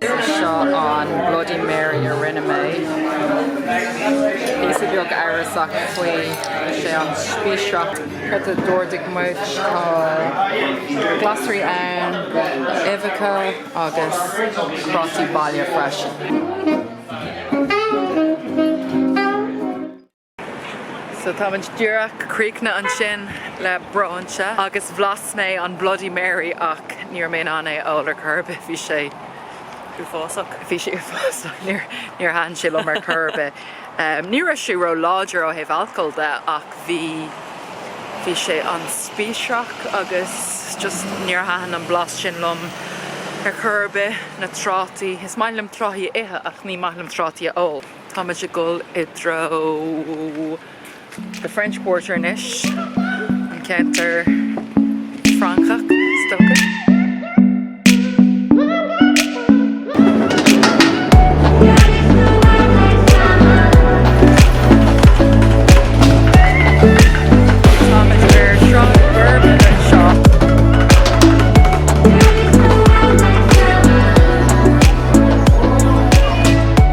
Seo an Bloody Mary a rinne mé. Píosa beag amhrasach faoi, tá sé an- spíosracht. Cad a d'ordaigh muid? Tá glasraí ann, uibheacha agus prátaí baile freisin. So táimid díreach críochnaithe ansin le bróinse agus bhlas mé an Bloody Mary ach ní raibh mé in ann é a ól ar chor ar bith, bhí sé uafásach, bhí sé uafásach, níor thaitin sé liom ar chor ar bith. Ní raibh sé ró láidir ó thaobh alcóil de ach bhí, bhí sé an-spíosrach agus just níor thaitin an blas sin liom ar chor ar bith, na trátaí, is maith liom trátaí a ithe ach ní maith liom trátaí a ól. Táimid ag dul i dtreo The French Quarter anois, an ceantar Francach, is dócha. Táimid ar Shráid Bourbon anseo.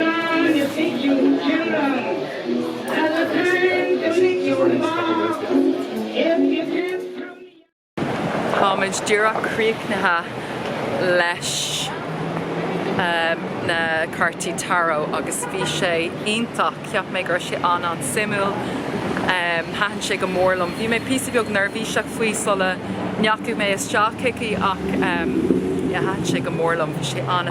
An fichiú ceann. At the time the fichiú lá. Táimid díreach críochnaithe leis na cártaí tarot agus bhí sé iontach, cheap mé go raibh sé an-, an-suimiúil, thaitin sé go mór liom. Bhí mé píosa beag neirbhíseach faoi sula ndeachaigh mé isteach chuici ach thaitin sé go mór liom, bhí sé an-.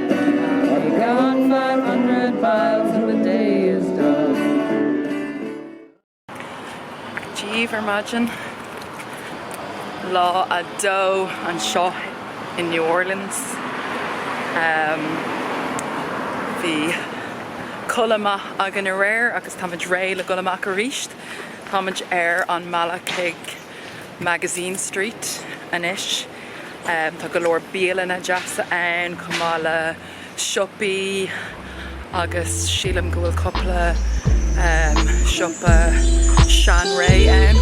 I'll be gone five hundred miles when the day is done. Díobh ar maidin, lá a dó anseo i New Orleans, bhí codladh maith againn aréir agus táimid réidh le dul amach arís. Táimid ar an mbealach chuig. Magazine Street anois. Tá go leor bialanna deasa ann chomh maith le siopaí agus sílim go bhfuil cúpla siopa seanré ann.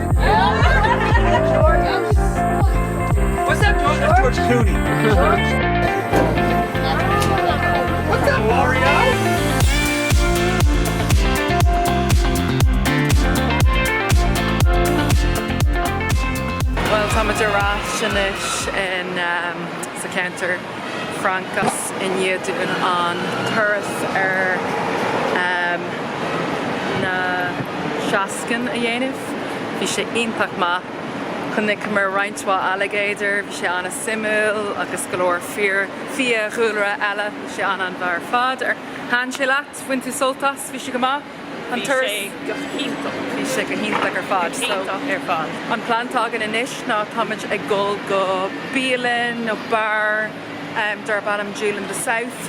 Bhuel, táimid ar ais anois in, em, sa cheantar. Francais i ndiaidh dúinn an turas ar na seascainn a dhéanamh. Bhí sé iontach maith. Chonaiceamar roinnt mhaith ailigéadar, bhí sé an-suimiúil, agus go leor fiadhúlra eile. Bhí sé an-an-mhaith ar fad. Ar thaitin sé leat? Bhain tú sult as? Bhí sé go maith? Bhí sé go hiontach. Bhí sé go hiontach ar fad. So, an plean atá againn anois ná táimid ag dul go bialann nó beár em darb ainm Jewel of the South.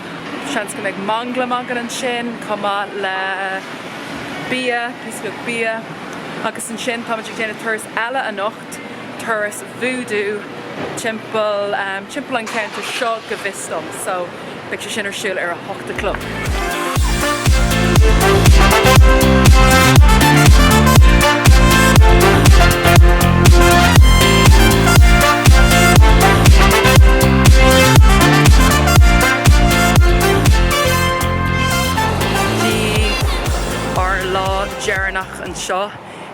Seans go mbeidh manglam againn ansin chomh maith le bia, píosa beag bia. Agus ansin táimid ag déanamh turas eile anocht. turas Voodoo timpeall, timpeall an cheantair seo go bhfios dom so beidh sé sin ar siúl ar a hocht a chlog. Ár lá deireanach anseo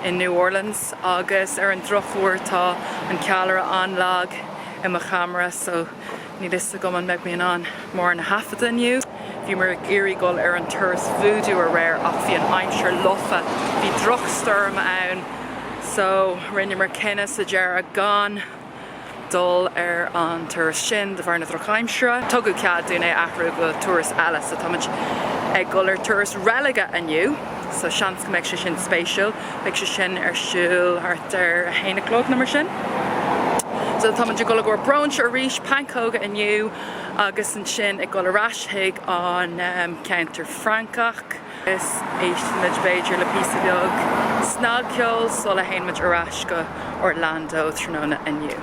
in New Orleans. Agus ar an drochuair tá an ceallra an-lag i mo cheamara so níl a fhios agam an mbeidh mé in ann mórán a thaifeadadh inniu. Bhíomar ag iarraidh dul ar an turas Voodoo aréir ach bhí an aimsir lofa, bhí drochstoirm ann so rinneamar cinneadh sa deireadh gan. dul ar an turas sin de bharr na drochaimsire. Tugadh cead dúinn é a athrú go turas eile so táimid ag dul ar turas reilige inniu so seans go mbeidh sé sin spéisiúil. Beidh sé sin ar siúl thart ar a haon a chlog nó mar sin. So táimid ag dul i gcomhair bróinse arís, pancóga inniu agus ansin ag dul ar ais chuig an ceantar Francach. Is éistfimid b'fhéidir le píosa beag snagcheoil sula dtéann muid ar ais go Orlando tráthnóna inniu.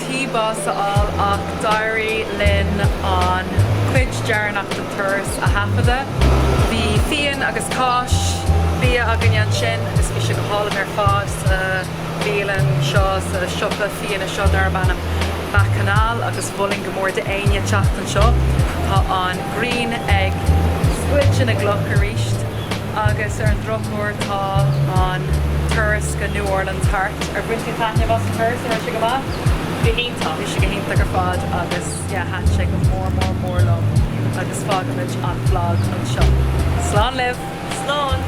tí bás a fháil ach d'éirigh linn an chuid deireanach den turas a thaifeadadh. Bhí fíon agus cáis, bia againn ansin agus bhí sé go hálainn ar fad sa bhialann seo, sa siopa fíona seo darb ainm Bacchanal agus mholfainn go mór d'éinne teacht anseo. Tá an ghrian ag scoilteadh na gcloch aríst. Agus ar an drochuair tá an turas go New Orleans thart. Ar bhain tú taitneamh as an turas? An raibh sé go maith? Go hiontach. Bhí sé go hiontach ar fad agus yeah thaitin sé go mór mór mór liom agus fágaimid an blag anseo. Slán libh! Slán!